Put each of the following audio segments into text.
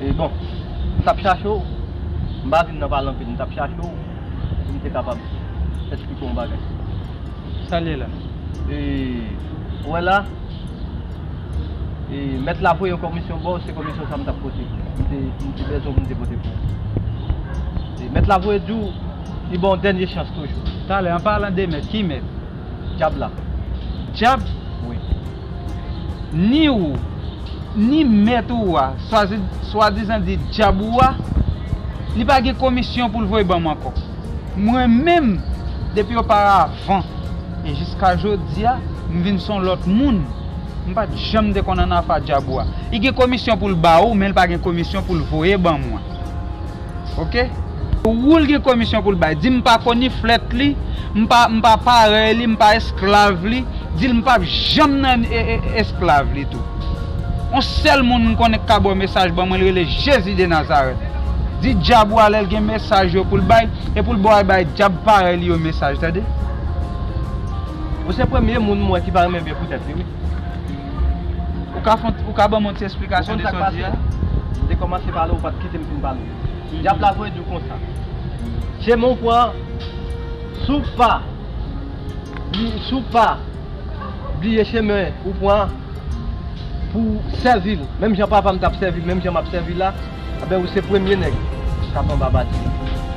E bon, m t ap chache w, m pa vin nan pale anpil, m t ap chache w pou m te kapab esplike w yon bagay. Sa l ye la? E, ou wè la, e, mèt la voye yon kòmisyon ba w, se kòmisyon sa m t ap pote, m te, m te bezwen pou m te pote pou ou. E, mèt la voye di w, li ba w yon dènye chans toujou. Talè, an palan de mèt, ki mèt? Dyab la. Dyab? Wi. Ni ou, ni mèt ou a, swadizan di dyab ou a, li pa gen komisyon pou l voye ban m ankò. Mwen menm, depi oparavan e jiska jodi a, m vin s on lòt moun. M pa t janm te konn annafa dyab ou a. Li gen komisyon pou l ba ou, men li pa gen komisyon pou l voye ban mwen. ok. Pou woul gen komisyon poul bay di mpa koniflèt li mpa mpa parèy li mpa esklav li dil mpap janm nan esklav li tou on sèl moun mkonnen kka baw mesaj ban mwen li rele jezi de nazarèt di djab ou a lèl gen mesaj yo poul bay epoul baw al bay djab parèy li yo mesaj tande. Ou se premye moun m wè ki pa renmen byen pou tèt li wi. Ou ka banm yon ti esplikasyon de sa w di a? Ou konn sa k pase? M te kòmanse pale ou pat kite m fin pale. Dyab la voye di w konsa. Je men w pran si w pa si w pa bliye chemen ou pran pou w sèvi l menm jan papa m t ap sèvi l menm jan m ap sèvi l la. Anben ou se premye nèg kap anba bati a.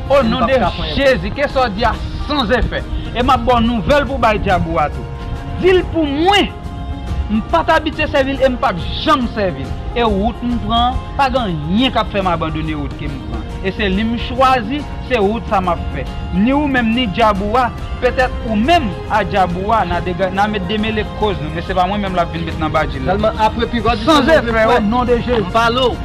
O non de jezi ke sa w di a san zefè e map baw nouvel pou bay djab ou a tou dil pou mwen m pat abitye sèvil em pap janm sèvil e wout m pran an pagen anyen kap fèm abandone wout kem pran e se li m chwazi se wout sa map fè ni ou menm ni djab ou a petèt ou menm a djab ou a na met demele koz nou men se pa mwen menm lap vin met nan badji la san zefè o non de jezi.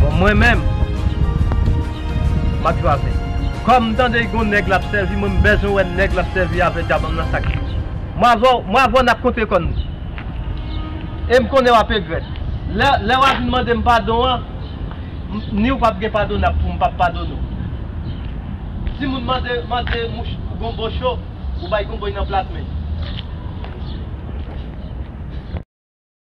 Bon mwen menm map jwaze. Kom m tande gon neg lap sevi mwen m bezwen we neg lap sevi a vle di a banm nan sak li. Mwen avè w mwen avè w nap kontre kòn nou. E m konnen wap egrèt. Lè lè wa vin mande m padon an m ni w pap gen padon nap pou m pap padone w. Ti moun mande mande mouch gonbo cho ou bay gonbo y nan plat men.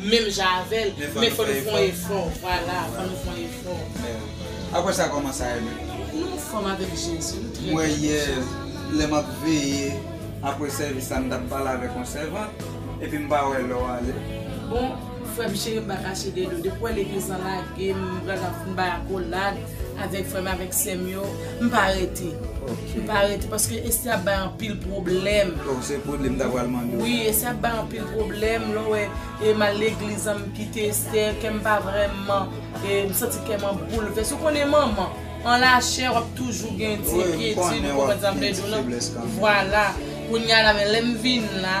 menm jan avèl men fò nou fon efò vwala fò nou fon efò. Aprè sa kòman sa ye menm. Nou anfòm avèk Jezi nou trè byen Mwen yè lè map veye aprè sèvis la m tap pale avèk yon sèvant epi m pa wè lè w ale. Bon frèm cheri m pa kache de nou depi w wè legliz lan lage m pral nan fn bay akolad. Avèk frèm avèk sèm yo m pa rete m pa rete paske Esthie ap bay anpil pwoblèm oh se pwoblèm m ta pral mande w wi Esthie ap bay anpil pwoblèm lè w wè e m al legliz an m kite Esthie kè m pa vrèman e m santi kè m an boulvès ou konnen manman an lachè wap toujou gen yon ti enkyetid ou konprann sa m vle di w nan vwala kounya la men lè m vin la.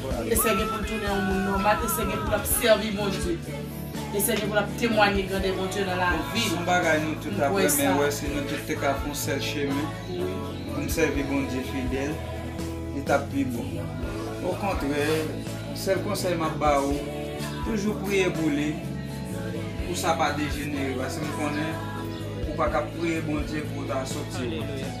Esther gen poul tounen yon moun nòmal, Esther gen poul ap sèvi Bondye. Esther gen poul ap temwanye grandè Bondye nan lavi nou. Son bagay nou tout ap renmen wè si nou tout te ka fè yon sèl chemen poun sèvi Bondye fidèl li tap pi bon. Okontrè sèl konsèy map ba ou toujou priye pou li pou sa pa dejenere paske m konnen ou pa ka priye Bondye pou ou ta soti wont.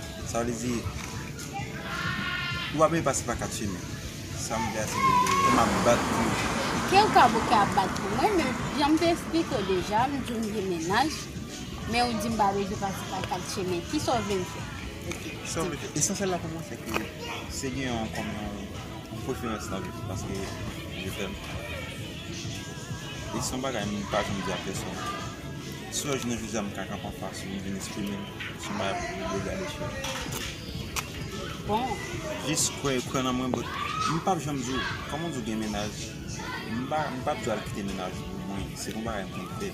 Sa vle di Ou pa bliye pase pa 4 chemen Sa m vle a se lè li Pou m ap bat pou nou Ke w kab ou ke ap bat pou mwen Men jan m te esplike w deja M di w m gen mennaj Men ou di m pa bezwen pase pa 4 chemen Ki sa w vle m fè Ok Ki sa w vle m fè Esansyèl la pou mwen se ke Se gen yon kòm yon Yon preferans nan vi m Paske je t'aime E son bagay m pa janm di a pèsonn Swa jounen jodi a m ka kanpe anfas ou m vin esprime m sou bagay pou yo gade sou ou. Bon. Jis kwè yo, kwè nan mwen but m pap janm di w, kòman w di w gen mennaj, m pa, m pap di w al kite mennaj ou pou mwen, se pa yon bagay m konn fè.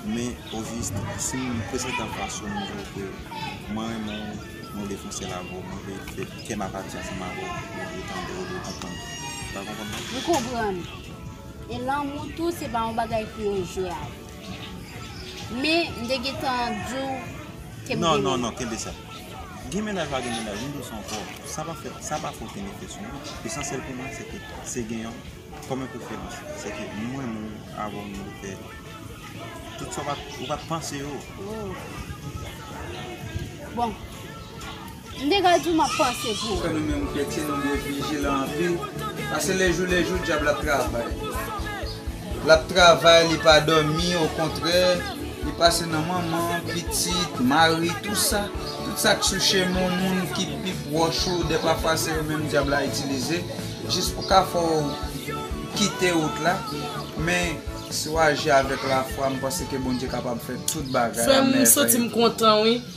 Men ojis si m prezante anfas ou m di w ke mwen renmen w, mwen vle fon sèl avè w, mwen vle fè kè m ap pati ansanm avè w, mwen vle tande w, mwen vle konprann ou. Ou ta konprann mwen? M konprann. E lanmou tou se pa yon bagay pou yo jwe avèl. Men, m te gentan di w ke m gen mennaj. Non, non, non, kenbe sa. Gen mennaj ou pa gen mennaj, m di w sa ankò, sa pa fè, sa pa fè okenn efè sou mwen. Esansyèl pou mwen, se ke, se gen yon, kòm yon preferans. Se ke m renmen w, avè w m vle fè tout sa w pa, ou pa t panse yo. Bon. M te ka diw map panse pou ou. Frè nou menm kretyen nou dwe vijilan anpil pase lejou lejou dyab la ap travay lap travay li pa dòmi okontrè li pase nan manman pitit mari tou sa tout sak sou chemen w moun ki pi pwòch ou dè pafwa se yo menm dyab la itilize jis pou ka fè w kite wout la men si w aji avèk lafwa m panse ke Bondye kapab fè tout bagay amen frè yo. Frèm m soti m kontan wi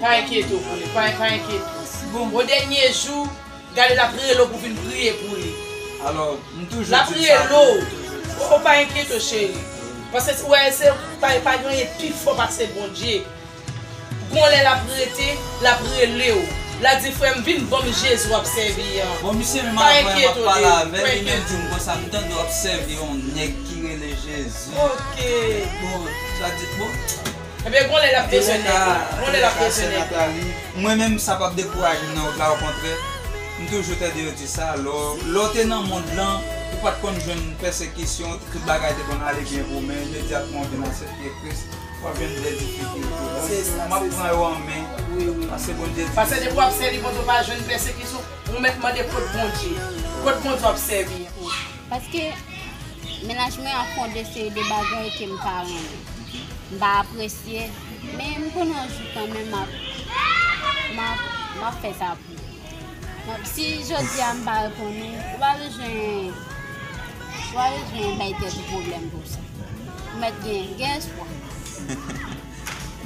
Pa enkyete w pou li, pa enkyete w. Bon, o dènye jou, gade l ap rele w pou w vin priye pou li. L ap rele w, o pa enkyete w cheri. Paske ou wè, se pa pa gen anyen pi fò pase Bondye. Gon lè l ap rete, l ap rele w. L ap di, frè m, vin ban m Jezi w ap sèvi an. Bon, misye menm avan m ap pale avè l, li menm di m konsa, m tande w ap sèvi yon nèg ki rele Jezi. Ok. Bon, sa di, bon. Ebyen gon lè lap bezwen nèg la. Gon lè lap bezwen nèg la. Mwen menm sa pap dekourajem nan wout la okontrè m toujou tande yo di sa lè w te nan mond lan ou pat konn jwenn pèsekisyon tout bagay te konn ale byen pou ou men imedyatman ou vin asepte kris wap jwenn de difikilte bon map pran yo an men pase bondye di pase depi wap sèvi bondye ou pa jwenn pèsekisyon ou mèt mande kot bondye kot bondye wap sèvi. Paske menaj mwen an fon de seri de bagay ke m pa renmen. M pa apresye, men m konnen yon jou kanmenm m ap, m ap, m ap fè sa pou li. M ap, si jodi a m pa reponn ou, ou pa bezwen, ou pa bezwen bay tèt ou pwoblèm pou sa. Ou mèt gen, gen espwa.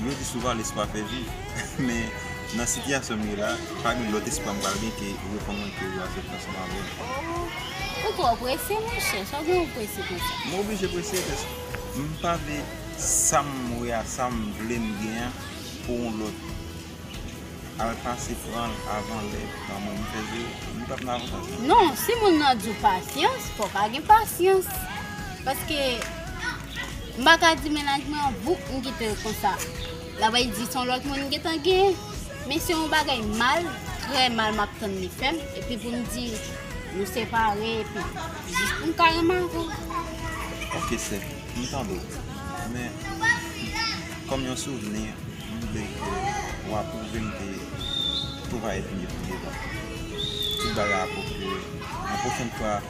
Yo di souvan lespwa fè viv. Men, nan sitiyasyon m ye la, pa gen lòt espwa m pral gen ke reponn mwen ke ou asepte ansanm avè m. Ou twò prese monchè, sa w gen ou prese konsa? M oblije prese paske m pa vle sa m wè a, sa m vle m gen an pou yon lòt al pase pran l avan lè nan men m. M fè di w, m pa p nan avantaj non. Non, si moun nan di w pasyans, fò w ka gen pasyans. Paske m pa ka di mennaj mwen an bouk m kite l konsa. Labay di son lòt moun m gentan gen men se yon bagay mal trè mal map tann li fèm epi pou m di nou separe epi jis pou m ka renmen avè w. Ok sè m tande w men kòm yon souvni m vle ke w apwouve m ke tou va èt mye pi devan tout bagay ap ok yon pwochen fwa.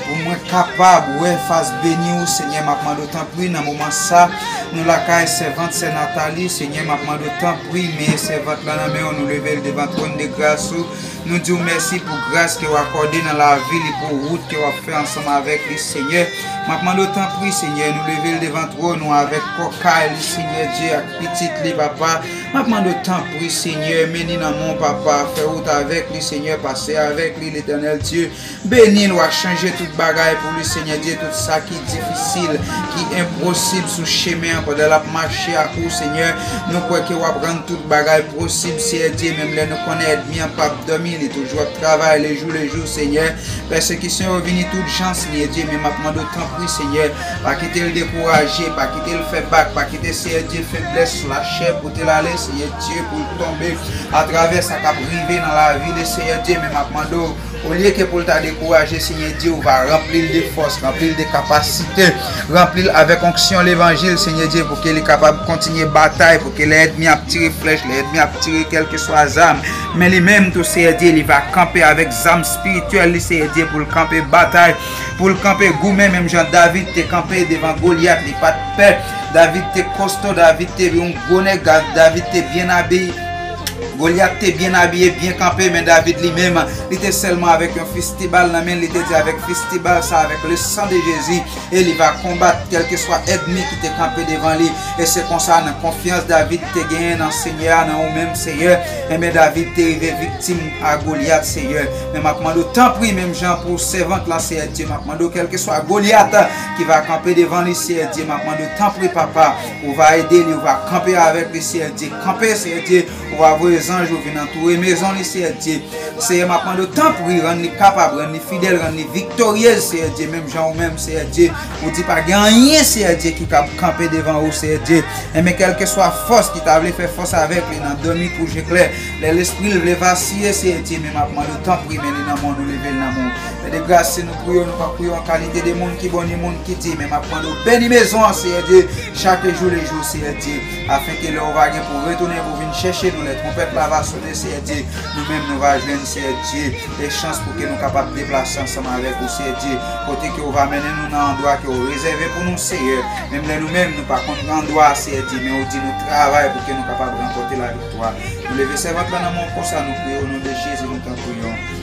Pou mwen kapab wè fas beni ou senyè map mande w tanpri nan moman sa nou lakay sèvant sè Nathalie senyè map mande w tanpri meye sèvant lan nan men w nou leve l devan twòn de gras ou nou di w mèsi pou gras ke w akòde nan lavi li pou wout ke wap fè ansanm avèk li senyè map mande w tanpri senyè nou leve l devan twòn ou avèk kò kay li senyè Dye ak pitit li papa map mande w tanpri senyè men li nan men w papa fè wout avèk li senyè pase avèk li letènèl Dye Benil wa chanje tout bagay pou li Senyè Dye tout sa ki difisil ki enprosib sou chemen an pandan lap mache ak ou Senyè nou kwè ke wap rann tout bagay prosib Seyè Dye menm lè nou konnen èdmi an pap dòmi li toujou ap travay lejou lejou Senyè pèsekisyon yo vini tout jan Senyè Dye men map mandew tanpri Senyè pa kitel dekouraje pa kitel fè bak pa kite Seyè Dye feblès lachè potel ale Seyè Dye poul tonbe atravè sa kap rive nan lavi li Seyè Dye men map mandew Olye ke pou l ta dekouraje, Senyè Jewova ranpli l de fòs, ranpli l de kapasite, ranpli l avèk onksyon levanjil, Senyè Dye, pou ke li kapab kontinye batay, pou ke lè èdmi ap tire flèch, lè èdmi ap tire kèlkeswa zam, men li menm tou, Seyè Dye, li va kanpe avèk zam spirityèl li, Seyè Dye, pou l kanpe batay, pou l kanpe goumen, menm jan David te kanpe devan Golyat, li pa t pè, David te kosto, David te yon gwo nèg, David te byen abiye. Golyat te byen abiye, byen kanpe, men David li menm, li te sèlman avèk yon fistibal nan men l, li te di avèk fistibal sa a, avèk le san de Jezi, e li va konbat kèlkeswa èdmi ki te kanpe devan li. E se konsa, nan konfyans David te genyen nan Senyè a, nan ou menm, Seyè, enben David te rive viktim a Golyat, Seyè. Men m ap mande w, tanpri, menm jan pou sèvant la, Seyè Dye, m ap mande w, kèlkeswa Golyat ki va kanpe devan li, Seyè Dye, m ap mande w, tanpri, Papa, Ou va ede li, ou va kanpe avèk li, Seyè Dye. Kanpe, Seyè Dye, ou va voye zanj ou vin antoure mezon li, Seyè Dye. Seyè, m ap mande w, tanpri, rann li kapab, rann li fidèl, rann li viktoryez, Seyè Dye, menm jan ou menm, Seyè Dye, ou di pa gen anyen, Seyè Dye, ki kab kanpe devan ou, Seyè Dye. Enben, kèlkeswa fòs ki ta vle fè fòs avèk li nan dòmi kou je klè, lè lespri l vle vasiye, Seyè Dye, men m ap mande w, tanpri, men li nan men w, nou leve l nan men w. Fè de gras, se nou. pou yo nou pap pou yo an kalite de moun ki bon ni moun ki di men map mande ou beni mezon an seyè Dye chak jou le jou seyè Dye afen ke lè ou va gen pou retounen pou vin chèche nou lè twonpèt la va sone seyè Dye nou menm nou va jwenn seyè Dye e chans pou ke nou kapab deplase ansanm avèk ou seyè Dye kote ke ou va mennen nou nan andwa ke ou rezève pou nou seyè menm lè nou menm nou pa konn andwa seyè Dye men ou di nou travay pou ke nou kapab ranpote la viktwa nou leve sèvant la nan men ou konsa nou priye o non de Jezi nou tanpri yo.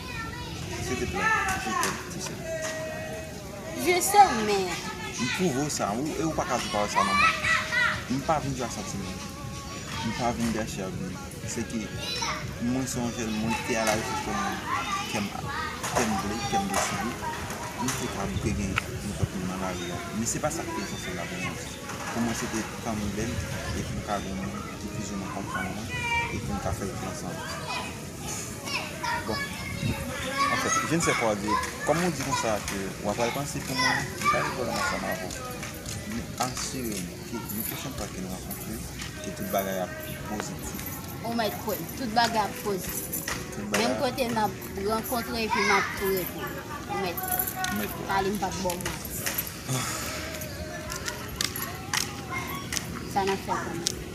Sete plat je te tise. Je se men. M pwouve w sa e ou pa ka di w pa wè sa nan mwen. M pa vin jwe ak santiman w. M pa vin gache ak bgy. Se ke mwen se yon jèn mwen te ala rechèch yon moun kè m kè m vle, kè m deside. M te ka bouke gen nenpòt moun nan lari a. Men se pa sa ki te esansyèl la pou mwen. Pou mwen se te tan m bèl e pou m ka gen yon moun ki plizoumwen konprann mwen e pou n ka fè l tout ansanm. Bon. Anfen, je ne sais quoi dire. Kòm ou di konsa ke wap al panse pou mwen, m pa gen pwoblèm ak sa ma vo. Men asire m ke yon pwochen fwa ke nou rankontre, ke tout bagay ap pozitif. Ou mèt kwè m, tout bagay ap pozitif. Menm kote nap rankontre epi map pre pou ou. Ou mèt kwè. M mèt kwè. Pale m pa k ba w manti. Sa nap fè kounye?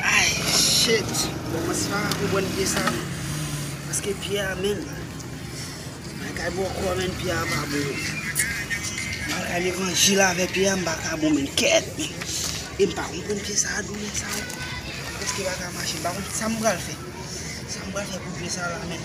Ayy shit Bon mwen si pa ka konprann pye sa non Paske pye a menn Bagay bòkò menn pye a pa bon Bagay levanjil avè pye a m pa ka bon menn kèèt menn E m pa konprann pye sa doulè sa yo Preske pa ka mache m pa konn sa m pral fè Sa m pral fè pou pye sa la menn.